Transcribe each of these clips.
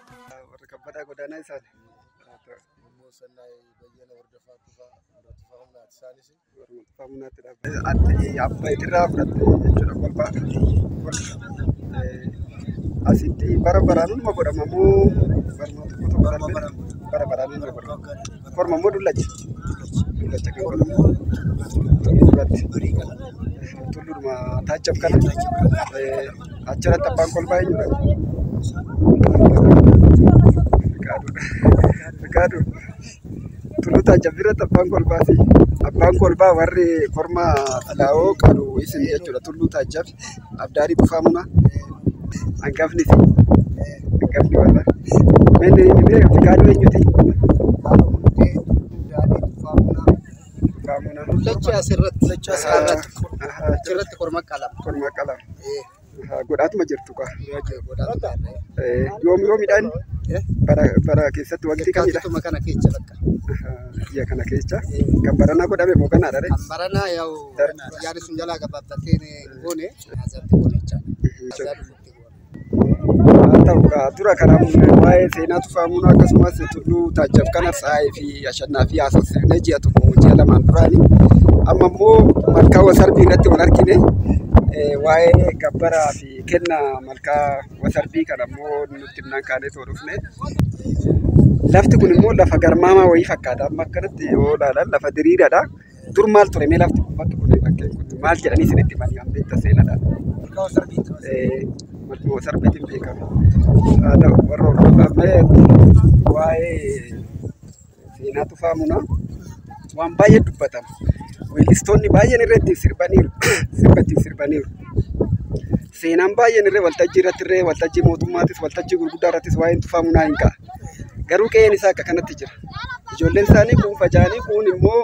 Warra kabbadaa godaanaa isaan. Immoo sannaay bayyana hordofaa tufaa hordofaa humnaati isaanis. Warra tufaa humnaatti dhaabbata. Ati abbaa itirraa fudhatte jechuudha kolfaa. Asitti bara baraan hunduma godhama moo barnoota tokko tokko bara baraan hunduma godhama? Korma immoo dullacha. Dullacha kan godhamu tulluu irratti. Tulluudhuma taachaf kana eh, achirratti abbaan kolbaa eenyudha? Fikaaduudha. Fikaaduu. Tulluu taachaf irratti abbaan kolbaa fi abbaan kolbaa warri korma xalaa'oo qalu isin jechuudha tulluu taachaf. Abdaalii Tufaa Mumaa hangafni fi hangafni warra manni himee Fiqaaduu eenyuti? Mul'achi asirratti asirratti asirratti korma qalama. Korma qalama. Godhaatuma jirtu kaa. Yoom yoomidhaan bara bara keessatti wanti kamidha? Kaatuma kana keessa bakka. Biyya kana keessa kan baranaa godhame moo kanaadha? Kan baranaa yaa'u. Darbii. Yaada sun jalaa gabaabbatee hin goone. Haasatti goone jechaadha. Haasaa dhufutti goone. Haa ta'u kaa dura kana waa'ee seenaa tufaa muunaa akkasumas tulluu taajjab kana saayee fi ashannaa fi haasofsiifnee ji'a tokko ji'a lamaan duraani. Amma immoo malkaa wasarbii irratti wal argine eh, waa'ee gabbaraa fi kenna malkaa wasarbii kana immoo nutti himnaan kaanee too dhufne. Lafti kun immoo lafa garmaamaa wayii fakkaata. Amma akkanatti yoo ilaalan lafa diriiraadha. Dur maal ture mee lafti kun bakki kun bakkeen kun maal jedhanii isinitti himan kan beektan seenadha. Malkaa Wasarbiiti. Eh, Malkaa Wasarbiitiin beekama. Haa ta'u warra hordofaa mee waa'ee seenaa tufaa munaa waan baay'ee dubbatama. Weellistoonni baay'een irra ittiin sirbaniiru. Sirba ittiin sirbaniiru. Seenaan baay'een irra waltajjii irratti irra waltajjii mootummaatis waltajjii gurguddaa irrattis waa'een tufaa munaa hin ka'a. Garuu qe'een isaa akka kanatti jira. Ijoolleen isaanii kuun faca'anii kuun immoo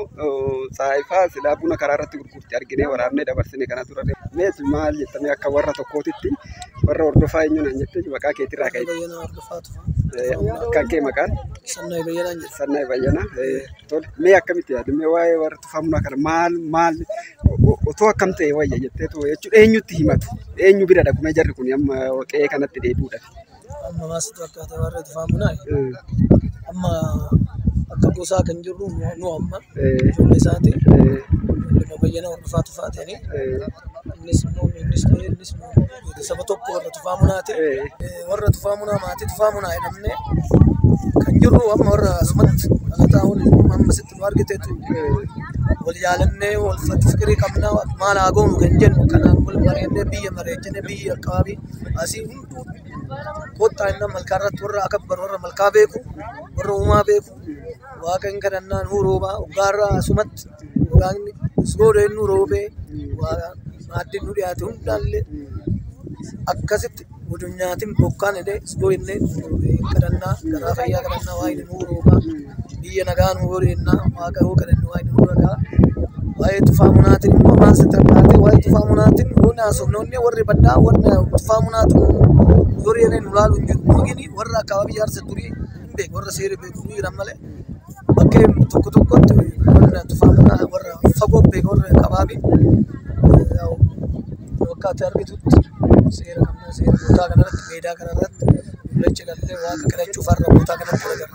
saayifaa silaa buna karaa irratti gurgurte arginee waraabnee dabarsine kana tura. Mees maal jettamee akka warra tokkootitti warra hordofaa eenyuun an jette maqaa keetirraa ka'e. Bayyana hordofaa tufa. Kan kee maqaan Sannaa bayyanaan jedha. sannaa bayyana. Tole mee akkamitti yaadu mee waa'ee warra tufaa bunaa kana maal maal otoo akkam ta'e wayya jetteetu jechuudha eenyutti himatu eenyu bira dhaqumee jarri kun amma qe'ee kanatti deebi'uudhaaf. Amma maasitu akka ta'e warra itti faamunaa amma akka gosaa kan jirru nu amma ijoollee isaatiin nama bayyana hordofaa tufaa ta'anii innis immoo innis ta'ee innis immoo nuti saba tokko warra tufaamunaa ta'e warra tufaamunaa maatii tufaamunaa jedhamne kan jirru amma warra asumatti dhalataa waliin amma sitti nu argiteetu wal yaalannee wal fikirii qabnaa maal haa goonu kan jennu kanaan wal bareennee biyya bareechinee biyya akkaabii asii Kottaa inni malkaa irratti warra akka baru warra malkaa beeku, warra uumaa beeku, waaqa hin kadhannaa nuu roobaa, hoggaa irra asumatti waaqni suurooda inni nuu roobee, maaddiin nu dhiyaate hundaallee akkasitti wajjin nyaatiin bokkaan jedhee suuroo jennee kadhannaa, garaa fayyaa kadhannaa, waaqni nuu roobaa. biyya nagaa nu godhe jennaa waaqayyoo kadhanne waaqayyo nu dhagaa waa'ee tufaa munaatiin immoo maal sitti fakkaate waa'ee tufaa munaatiin nuuni haasofne onnee warri baddaa warri tufaa munaatiin warri yeroo nu laalu hin jiru nuugini warra akkaabaabii jaarsa durii hin beeku warra seera beeku nu jiran malee bakkee tokko tokkotti warra tufaa munaa warra fagoo beeku warra akkaabaabii yaa'u wakkaatti argitutti seera qabna seera bootaa kanarratti meedaa kanarratti mul'acha gallee waaqa kadhachuuf har'a bootaa kanatti wal agarra.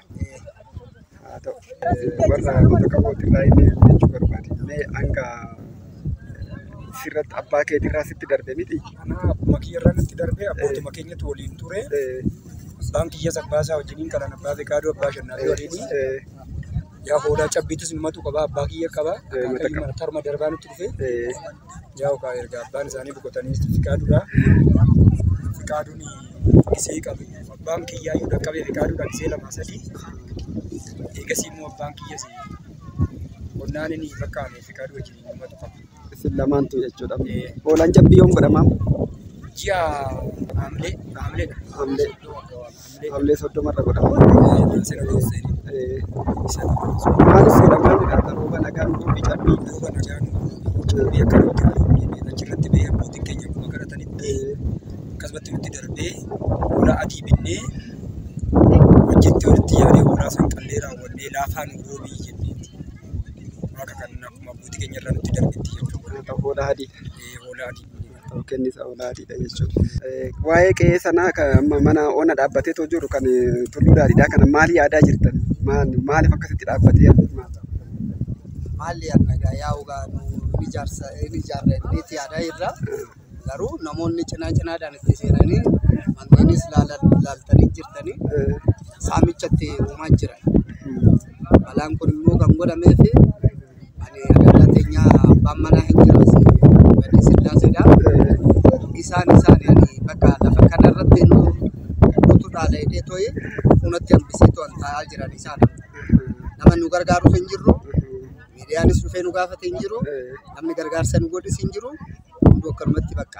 haa ta'u warra goota qabooti irraa inni jechuu barbaade mee hanga sirratti abbaa keetii irraa sitti darbe miti. Akkuma kiyya irraa natti darbee abbootuma keenyatti waliin ture. Abbaan kiyya sabbaa isaa wajjiniin kanan abbaa beekaaduu abbaa shannaa fi waliin yaa hoodaa cabbiitis numatu qaba abbaa kiyya qaba. Karuma darbaa nutti dhufe. Jaho kaa erga abbaan isaanii boqotanii fiqaaduudha. Fiqaaduun gisee qabu. Abbaan kiyyaa yoo dhaqqabee fiqaaduudha gisee lama sadii. Eegasii immoo abbaan kiyyas qonnaan inni fakkaame fiqaaduu wajjin uummatu qaba. Isin lamaantu jechuudha. Ee. Oolaan cabbii yoom godhamaa? Ji'a haamlee haamleedha. Haamlee. Yoo akka waan. Hamilee soddoma irra godhama. Maal seera maal jedha akka rooba nagaan dubbi cabbii. Rooba nagaan dubbi akka rooba achirratti bee abbootiin keenya akkuma kadhatanitti akkasumatti nutti darbee hoolaa adii binnee wajjitti walitti yaadee hoolaa san qallee raawwannee laafaa nu roobii jennee waaqa kan akkuma abbootii keenya irraa nutti darbetti jechuudha. Hoolaa adii. Hoolaa adii. Yookiin isa olaatiidha jechuudha. Waa'ee qe'ee sanaa kan mana ona dhaabbateetoo jiru kan tulluu daadhiidhaa kana maal yaadaa jirtan? Maaliif akkasitti dhaabbatee maal ta'a? Maal yaadna gaa yaa ogaa nu ijaarsa inni ijaarra inniitti yaadaa jirra. Garuu namoonni cinaa cinaadhaan itti seenanii manneenis laaltanii jirtanii saamichatti uumaa jira. Balaan kun immoo kan godhameef Ani adaala teenyaa abbaan manaa hin jiru asii Badde Sillaaseedha. Isaan isaan ani bakka lafa kana irratti nu guutuu dhaala jedhee tooyi funatti hambisee to'an taa'aa jiran isaan. Nama nu gargaarus hin jirru. Miidiyaanis dhufee nu gaafate hin jiru. Namni gargaarsa nu godhis hin jiru. Hunduu akkanumatti bakka.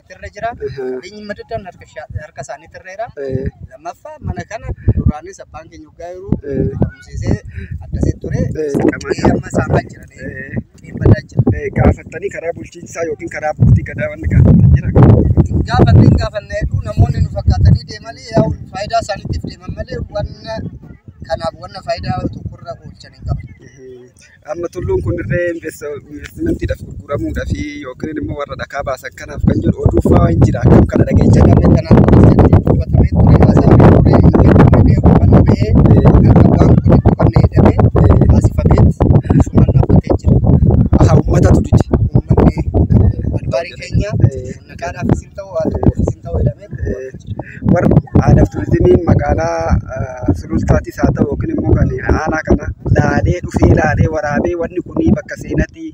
irra jira. Qabeenyi madaddaan harka sha- harka isaaniitti irra jira. Eh, Lammaffaa mana kana duraanis abbaan keenya waggaa yeroo Eh. barumsiisee addasee ture. Eh, qamaa- Qe'ee amma saamaa jira. eh, Qe'een badaa jira. eh, gaafattanii karaa bulchiinsaa yookiin karaa abbootii gadaa wanni gaafatan jira. Gaafanne hin gaafanne hedduu namoonni nu fakkaatanii deemanii yaa faayidaa isaaniitiif deeman malee wanna kanaaf wanna faayidaa tokkorra oolchan hin qaban. Eh, Amma tulluun kun dirree investimantiidhaaf gurguramuudhaaf yookiin immoo warra dhakaa baasan kanaaf kan jedhu oduu fa'aa hin jira. Akkam kana dhageenya garee kanaaf jedhamee dubbatamee ture haasaa fi turee hin jedhamee hubanna ba'ee akka waan kun hin qabne jedhamee taasifameet sumaan dhaabbatee jira. Aha uummatatu dide. Uummanni adbaarii keenya nagaadhaaf isin ta'u haa ta'u isin ta'u jedhamee. Warri aadaaf turizimii magaalaa Sulultaas haa ta'u yookiin immoo kan aanaa kana laalee dhufee laalee waraabee wanni kun bakka seenaati,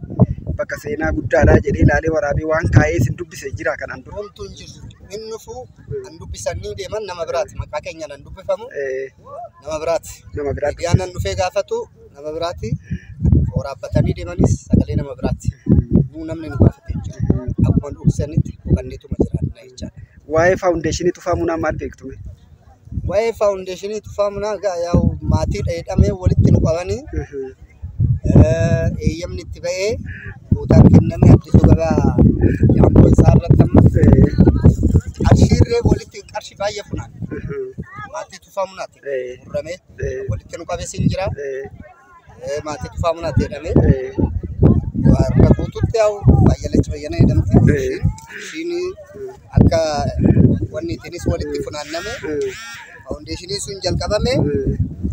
bakka seenaa guddaadha jedhee laalee waraabee waan kaa'ee isin dubbise jiraa kanaan dura? Homtuu hin jiru. Hin dhufu, hin dubbisan ni deeman nama biraati. Maqaa keenyaan hin dubbifamu nama biraati. Nama biraati. Miidiyaan dhufee gaafatu nama biraati. Waraabbatanii deemanis sagalee nama biraati. Nuu namni nu gaafate hin jiru. Akkuma dubbisanitti hubanneetuma jiraanna. jechaadha. Waa'ee faawundeeshinii tufaa munaa maal beektu? Waa'ee faawundeeshinii tufaa munaa egaa yaa'u maatii dheedhamee walitti nu qabanii eeyyamni itti ba'ee guutaan kennamee addisuu gabaa yaa'u isaa irratti amma qarshiirree walitti qarshii baay'ee funaan maatii tufaa munaati murramee walitti nu qabee siin jira. Eh, maatii dhufaa munaatti jedhamee harka guututti yaa'u baay'alachi bayyana jedhamti. Ishiin- Ishiin akka wanni ittiinis walitti funaanname faawundeeshinii sun jalqabame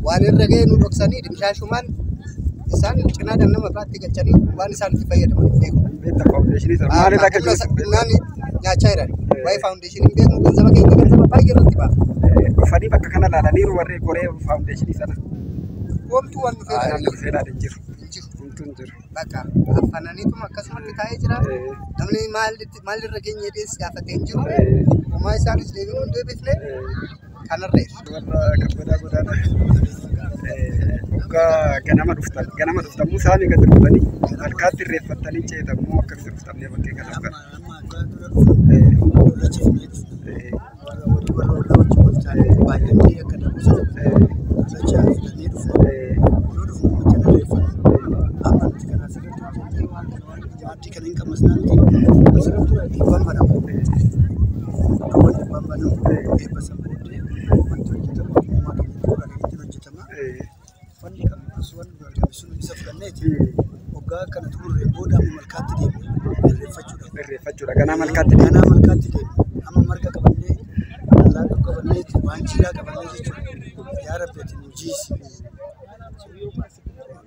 waan irra ga'e nu dhoksanii dimshaashumaan isaan cinaadhaan nama biraatti galchanii waan isaan itti fayyadaman hin beeku. Beekta faawundeeshinii sana. Maal irraa Humna galchuun isa- humnaan nyaachaa jiran. Waa'ee faawundeeshinii Isin hin beeknu ganzaba keenya ganzaba baay'ee irratti baafna. Dhufanii bakka kana ilaalaniiru warri goree faawundeeshinii sana. Homtuu waan dhufee Waan ilaalee dhufee ilaalee jiru. hin jiru. Homtuu hin jiru. Bakka affananiituma akkasumatti taa'ee jira. Namni maal- maalirra geenye jedhee si gaafate hin jiru. Homaa isaanis deebiin hin deebifne. kanarra irra. Warra kabbadaa godaanaa hoggaa ganama dhuftan ganama dhuftan immoo saanii gad dhuftanii halkaatti irreeffattanii ceetan immoo akkamitti dhuftamnee bakkee kana kan. Thank you. Jaartii kana hin qabna sinaan dhiibbaan banama. Akkawwan dhiibbaan banamu eebba san booddee wanti hojjetamu ogummaa keenya qofa irratti hojjetama. Uffanni kan bisu waan nu argame sun isa fudhanneeti waggaa kana xumurree booda amma malkaatti deemna irreeffachuudhaaf. Irreeffachuudha. Ganaa malkaatti deemna. Ganaa malkaatti deemna. Amma marga qabannee allaattuu qabannee waan jiilaa qabannee jechuudha. Yaa Rabbi ati nu jiisi.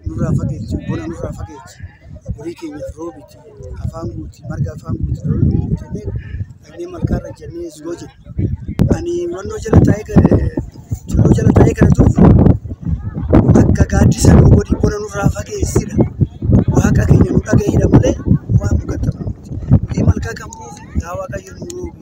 nurraa fageechi bona nurraa fageechi horii keenyaaf roobiti afaan guuti marga afaan guuti loon nu guutannee dhaqnee malkaarra jennee siroo jenna. Ani mannoo jala taa'ee kan tulluu jala taa'ee kana turfu akka gaaddisa nu godhi bona nurraa fageessidha. Waaqa keenya nu dhaga'idha malee waan nu gattamu miti. Horii malkaa kan buufi yaa waaqayyo nu roobi.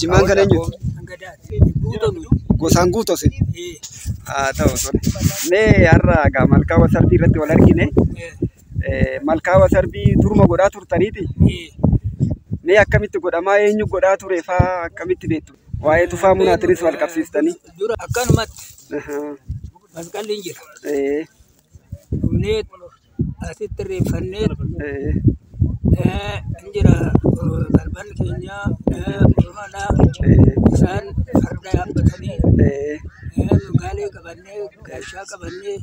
Jimmaan kan eenyuti? Gosaan guutu osin. Haa ta'u tole. Mee har'a egaa malkaa wasarbii irratti wal argine. Eh, Malkaa wasarbii turma godhaa turtaniiti. Mee akkamitti godhamaa eenyu godhaa ture faa akkamitti beektu? Waa'ee tufaa munaatinis wal qabsiistanii. Dura akkanumatti Ahaa. masqalli hin jira. Eh, dhumneet asitti irreeffanneet eh, hin jira eh, garban keenya eh, Oromoodha isaan farda yaabbatanii eh, gaalee qabannee gaashaa qabannee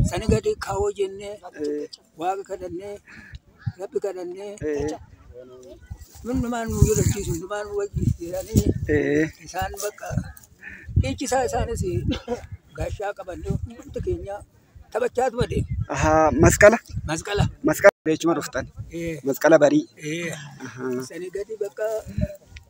sani gadi kaawoo jennee Waaqa kadhannee, Rabbi kadhannee, ee hundumaa nu jirachiisu, hundumaa nu wajjin jiranii ee isaan bakka dhiichisaa isaanis gaashaa qabannee hundumti keenya taphachaa tuma deema. ahaa masqala Masqala. masqala beechuma dhuftan Ee, masqala barii ee, ahaa sanii gadi bakka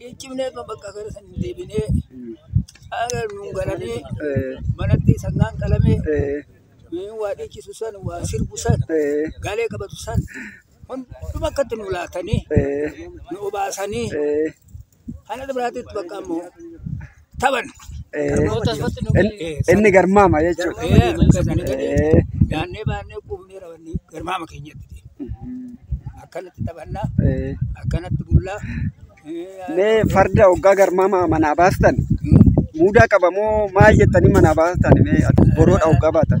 Hin cimnee kan bakka gara san hin deebinee. Haala nuun galanii manatti sangaan qalamee nuun waa dhiichisu san waa sirbu san galee qabatu san hunduma akkatti nu laatanii nu obaasanii haala biraatiin bakka ammoo. Taban. Inni garmaama jechuudha. Yaannee baannee quufnee rawannee garmaama keenyatti deema. Akkanatti taphannaa, akkanatti bullaa. Mee farda hoggaa garmaama manaa baastan muudaa qaba moo maal jettanii manaa baastan mee boroodha hoggaa baatan?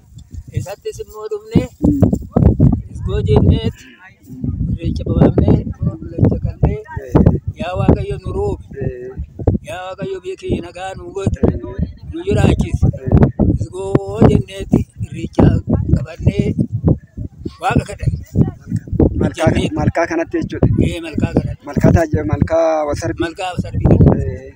Isattis immoo dhufnee isgoo jenneet irreecha baafnee qulqullacha qallee yaa waaqayyo nu roobi yaa waaqayyo biyya keenya nagaa nu godhi nu jiraachisi isgoo jenneetti irreecha qabannee waaqa kadhanne. Malkaa, Jennee. malkaa kanatti jechuudha. Ee malkaa kanatti Malkaa taajja, malkaa wasarbii. malkaa sarbii kanatti. Eh,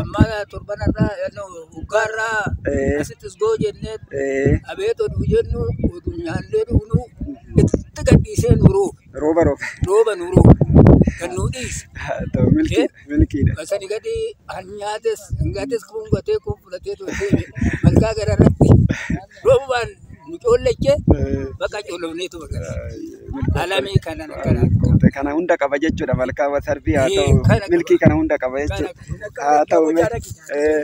Amma torban irraa hoggaa irraa Eh. asitti isgoo jennee Eh. abeet oduu jennu oduu nyaannee dhugnu itti gadhiisee nu roobe Rooba rooba. rooba nu roobe kan nu dhiise. Ta'u milkii Eh. milkiidha. Basani gadi hanyaates hangaates kun gatee kun fudhatee tolchee malkaa gara irratti Roobaan nu coollache bakka coolofneetu bakka alamii kanan kana Qoote kana hunda qaba jechuudha malkaa wasarbii haa Ee, ta'u kana qaba. milkii kana hunda qaba kana jechuudha. kana kana Haa ta'u mee kana ee,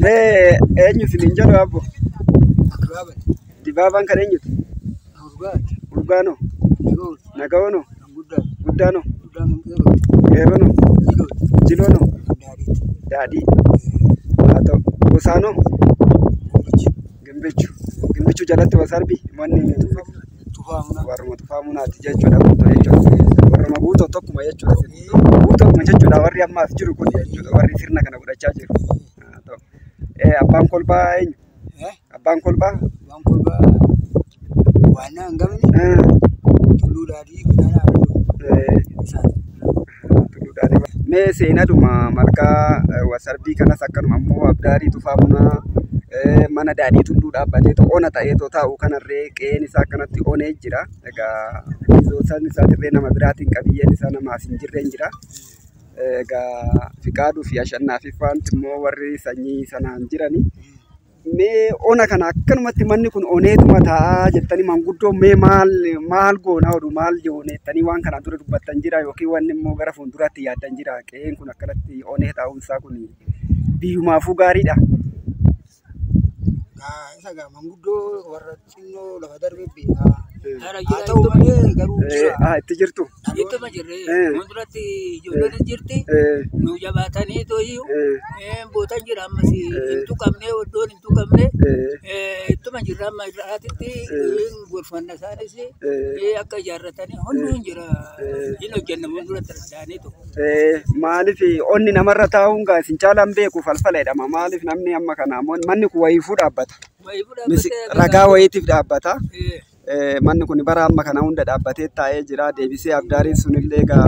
mee eenyu isiniin jedhu abbo dibaabaan kan eenyuti? Urgaanoo. Nagawanoo. Guddaanoo. Qeerronoo. Jiloonoo. Daadhii. Haa ta'u. Gosaanoo. Gimbichu. Gimbichu jalatti wasarbi manni warruma tufaa munaati jechuudha guutuu jechuudha. Warruma guutuu tokkuma jechuudha. Guutuu tokkuma jechuudha warri ammaaf jiru kun jechuudha warri sirna kana godhachaa jiru. Haa ta'u. Eh, Abbaan kolbaa eenyu? Abbaan kolbaa. Abbaan kolbaa waannaa hin gamne tulluu daadhii guddaa Mee seenadhuma malkaa wasarbii kanas akkanuma immoo abdaarii tufaa bunaa mana daadhii tulluu dhaabbatee ona ta'ee taa'u kanarree qe'een isaa akkanatti onee jira. Egaa isaan isaatirree nama biraatiin qabiyyeen isaa namaaf hin jirreen jira. Egaa Fiqaaduu fi Ashannaafii faanti immoo warri sanyii sanaan jirani. Mee ona kana akkanumatti manni kun oneetuma taa'aa jettanii manguddoo mee maal maal goonaa oduu maal joone jettanii waan kanaan dura dubbattan jira yookiin wanni immoo gara fuulduraatti yaaddan jira qe'een kun akkanatti onee taa'uun isaa kun biyyumaafuu gaariidha. Isa gaa manguddoo warra xinnoo lafa darbe beekaa. Haa ta'u malee garuu jira. Ah, itti jirtu. Ittuma jirre. Eh. Fuulduratti ijoolleen jirti. Eh, Nu jabaatanii tooyyuu. eh, Eh, Bootan jira ammas. Eh. Hin tuqamne, oddoon hin tuqamne. eh, Eh, Ittuma jirra amma irraatitti. Eh. Gorfanna isaanis. eh. Eh, Akka ijaarratanii hunduu hin jira. Eh. Hin hojjenna fuulduratti danda'anii tokko. Maaliif onni namarra taa'uun gaa isin caalaan beeku falfala jedhama. Maaliif namni amma kana manni kun wayiifuu dhaabbata. Ragaa wayiitiif dhaabbata. Manni kun bara amma kana hunda dhaabbatee taa'ee jira. Deebisee abdaariin sunillee gaa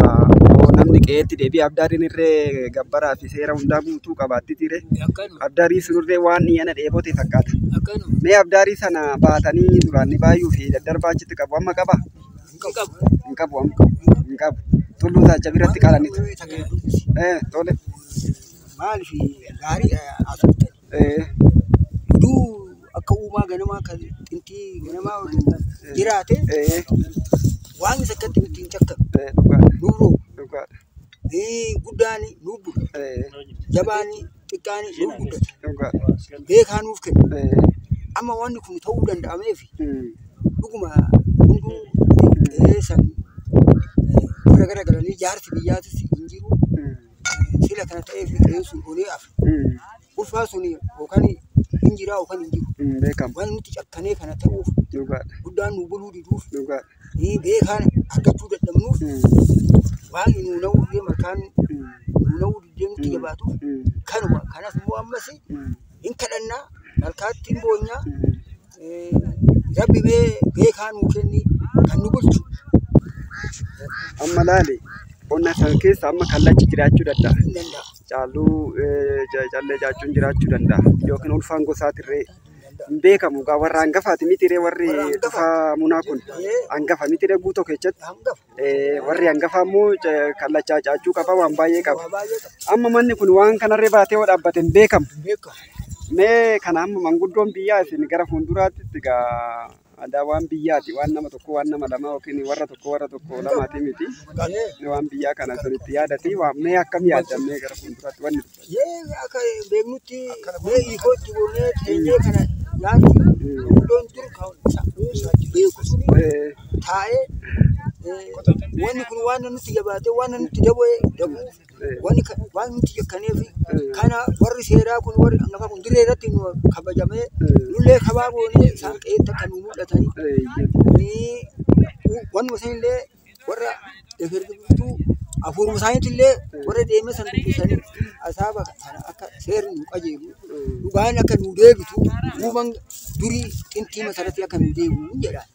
namni qe'eetti deebi'ee abdaariin irree gabbaraa fi seera hundaa guutuu qabaatti ture. Abdaarii sunirree waan dhiyeena dheebote fakkaata. Mee abdaarii sana baatanii duraan ni baay'uu fi daddarbaa achitti qabu amma qabaa? Hin qabu amma. Hin qabu. Tulluu taacha biratti qalannitu. Eh, tole. Maaliif gaarii asirratti Eh, oduu akka uumaa ganamaa kan xintii ganamaa waliin jiraate eh, waan isa akkatti nutti hin cakkamu. eh, dhugaadha. Nuuroo Dhugaadha. guddaan nuubbu Eh, jabaan xiqqaan nuuf guddata. Dhugaa. Beekaa nuuf kenna. Eh, Amma wanni kun ta'uu danda'ameef mm, dhuguma hunduu qe'ee san eh, gara gara galanii jaarsi biyyaatis hin jiru. mm, Eh, Sila kana ta'eef qe'een sun onee hafe. mm, Ulfaa sun yookaan hin jiraa yookaan hin jiru. mm, beekamu. Waan nuti cakkanee kana ta'uuf Dhugaadha. guddaan nu buluu diduuf Dhugaadha. Ni beekaan argachuu dadhabnuuf waan nu na'uu deema kan nu na'uu diddee nutti jabaatu kanuma kanas immoo ammas hin kadhannaa malkaatti hin boonyaa rabbi mee beekaa nuu kenni kan nu bulchu. Amma laali qonna san keessa amma kallachi jiraachuu danda'a. Hin danda'a. Caaluu callee jaachuun jiraachuu danda'a yookiin ulfaan gosaatirree. hin beekamu gaa warra hangafaati miti ree warri tufaa munaa kun hangafa miti ree guutoo keessatti Eh, warri hangafaa immoo ca- kallachaa caachuu qaba waan baay'ee qaba amma manni kun waan kanarree baatee yoo dhaabbate hin beekamu mee kana amma manguddoon biyyaa isin gara fuulduraatti itti gaa Aadaa waan biyyaati. Waan nama tokko waan nama lamaa yookiin warra tokko warra tokko lamaati miti. Waan biyyaa kana sanitti yaadati waamnee akkam yaadamnee gara fuulduraatti wanni Mee akka beeknutti mee hiikootti goonee teenyee kana yaadu iddoon dur kan sammuu isaatti beeku sun taa'ee wanni kun waan nutti jabaatee waan nutti daboo dabuuf Wanni ka- waan nuti yakkaneef kana warri seeraa kun warri hangafa kun dirree irratti nu kabajamee nullee kabaa goonee isaan qe'eetti akka nu mul'atanii Ee, wanuma sanillee warra efer dubbiftuu hafuuruma isaaniitillee warra deemee san dubbisanii asaaba sana akka seerri nu qajeelu dhugaan akka nu deebitu uuman durii xintii masaratti akka nu deebi'u jedha.